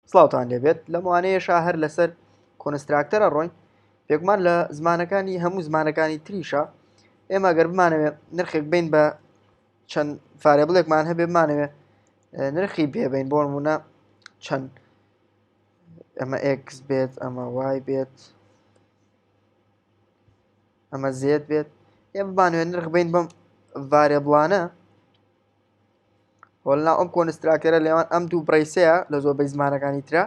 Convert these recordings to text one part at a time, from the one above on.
سڵاوتان لێبێت لەم وانەیەشا هەر لەسەر کۆنستراکتەرە ڕۆین پێکمان لە زمانەکانی هەموو زمانەکانی تریشە ئێمە گەر بمانەوێت نرخێک بین بە چەند فارێبڵێکمان هەبێ بمانەوێت نرخی بێبین بۆ نمونە چەند ئەمە ئکس بێت ئەمە وای بێت ئەمە زێت بێت ئێ بمانوێت نرخ بین بەم ڤارێبڵانە وەلا ئەم کۆنستراکتەرە لەوان ئەم دوو بڕیسەیە لە زۆربەی زمانەکانی تررا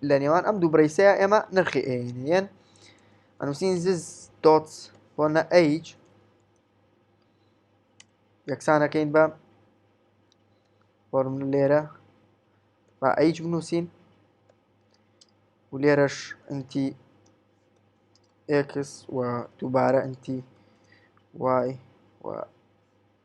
لە نێوان ئەم دوو بڕیسەیە ئێمە نرخی ئێنێن ئەنووسین زز دۆت بۆ نە ئەیج یەکسانەکەین بە فۆرم لێرە با ئەیج بنووسین و لێرەش ئەنتی ئکس و دووبارە ئەنتی وای و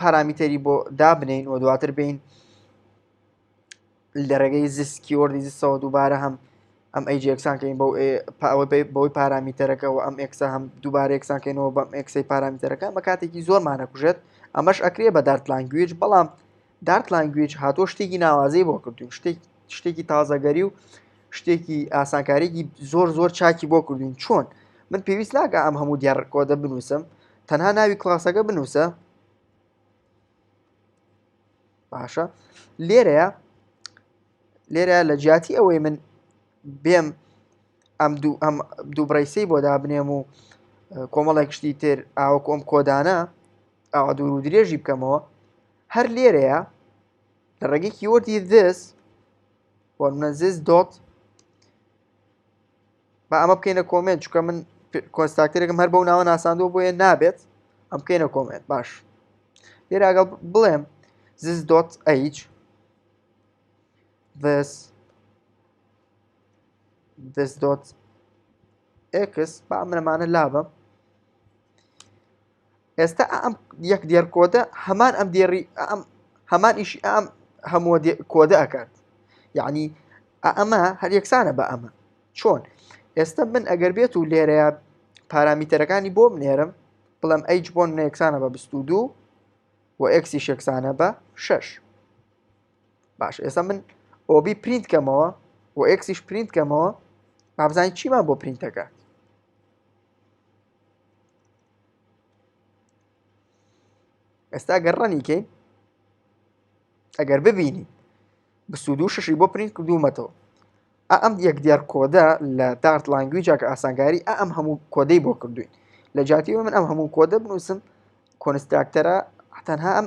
پارامیتەری بۆ دابنین و دواتر بین لە ڕێگەی زیست کیۆردی زیستەوە دووبارە هەم ئەم ئەی جێکسانکەین بۆ بەوەی پارامیتەرەکە و ئەم ئکسە هەم دووبارە یەکسانکەینەوە بەم ئەکسی پارامیتەرەکە بە کاتێکی زۆرمانە کوژێت ئەمەش ئەکرێ بە دارت لانگویج بەڵام دارت لانگویج هاتۆ شتێکی ناوازەی بۆ کردوین شتێک شتێکی تازەگەری و شتێکی ئاسانکارێکی زۆر زۆر چاکی بۆ کردوین چۆن من پێویست ناکە ئەم هەموو دیارڕکۆدە بنووسم تەنها ناوی کلاسەکە بنووسە باشە لێرەیە لێرە لە جیاتی ئەوەی من بێم ئەم دوو ئەم دوو بڕیسی بۆ دابنێم و کۆمەڵێک شتی تر ئاوە کۆم کۆدانە ئاوا دوور و درێژی بکەمەوە هەر لێرەیە لە ڕێگەی کیوەردی دەست وەرمەزز دۆت با ئەمە بکەینە کۆمێنت چکە من کۆنستاکتەرێکم هەر بەو ناوە ناساندوە بۆیە نابێت ئەم بکەینە کۆمێنت باش لێراگەڵ بڵێم زز دۆت ئەیچ this this dot x با منەمانە لابم ئێستا ئا ئەم یەک دێڕ کۆدە هەمان ئەم دێڕی ئا ئەم هەمان ئیشی ئا ئەم هەمووە دێ کۆدە ئەکات یعنی ئا ئەمە هەر یەکسانە بە ئەمە چۆن ئێستا من ئەگەر بێت و لێرەیە پارامیتەرەکانی بۆ بنێرم بڵێم ئەیچ بۆن نەیەکسانە بە بست و دوو و ئەکسی شێکسانە بە شەش باش ئێستا من ئۆبی پرینت کەمەوە و ئەکسیش پرینت کەمەوە بابزانین چیمان بۆ پرینتەکە ئێستا گەر ڕەنیکەین ئەگەر ببینی بسود و ششی بۆ پرینت کردوومەتەوە ئەم یەک دیار کۆدە لە دارت لانگویجا کە ئاسانگاری ئەم هەموو کۆدەی بۆ کردوین لە جاتیەوە من ئەم هەموو کۆدە بنووسم کۆنستراکتەرە تەنها ئەم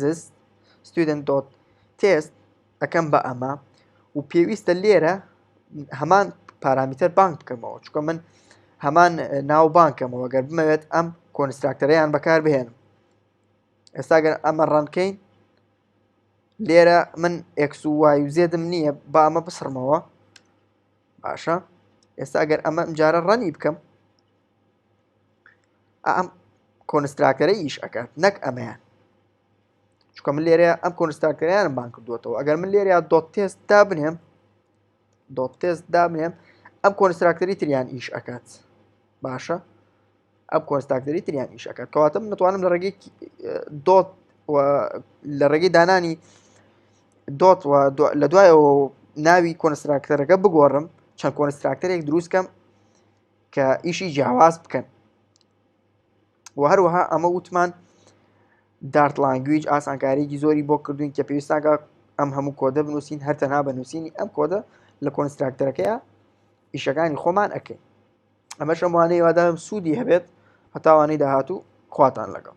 زست ستودنت دۆت تێست ئەەکەم بە ئەمە و پێویستە لێرە هەمان پارامیتەر بانک بکەمەوە چکە من هەمان ناو بانکەمەوە گەر بمەوێت ئەم کۆنستراکتەرەیان بەکار بهێنم ئێستاگەر ئەمە ڕەنکەین لێرە من ئەکس و وای و زێدم نییە با ئەمە بسڕمەوە باشە ئێستا گەر ئەمە ئەمجارە ڕەنی بکەم ئەم کۆنستراکتەرە ئیش ئەکات نەک ئەمەیان چکە من لێرە ئەم کۆنستراکتەریانم بان کردوێتەوە ئەگەر من لێرە دۆت تێست دا بنێم دۆت تێست دا بنێم ئەم کۆنستراکتەری تریان ئیش ئەکات باشە ئەم کۆنستاکتەری تریان ئیش ئەکات کەواتە من دەتوانم لە ڕێگەی دۆت لە ڕێگەی دانانی دۆت لە دوایەوە ناوی کۆنستراکتەرەکە بگۆڕم چەند کۆنستراکتەرێک دروستکەم کە ئیشی جیاواز بکەن و هەروەها ئەمە وتمان دارت لانگویج ئاسانکاریی زۆری بۆ کردوین کە پێویستاگە ئەم هەموو کۆدە بنووسین هەرتەنها بە نووسینی ئەم کۆدە لە کۆنستراکتەرەکەیە ئیشەکانی خۆمان ئەکەین ئەمە شەموانەی وادام سوودی هەبێت هەتاوانەی داهاتوو خواتان لەگەڵ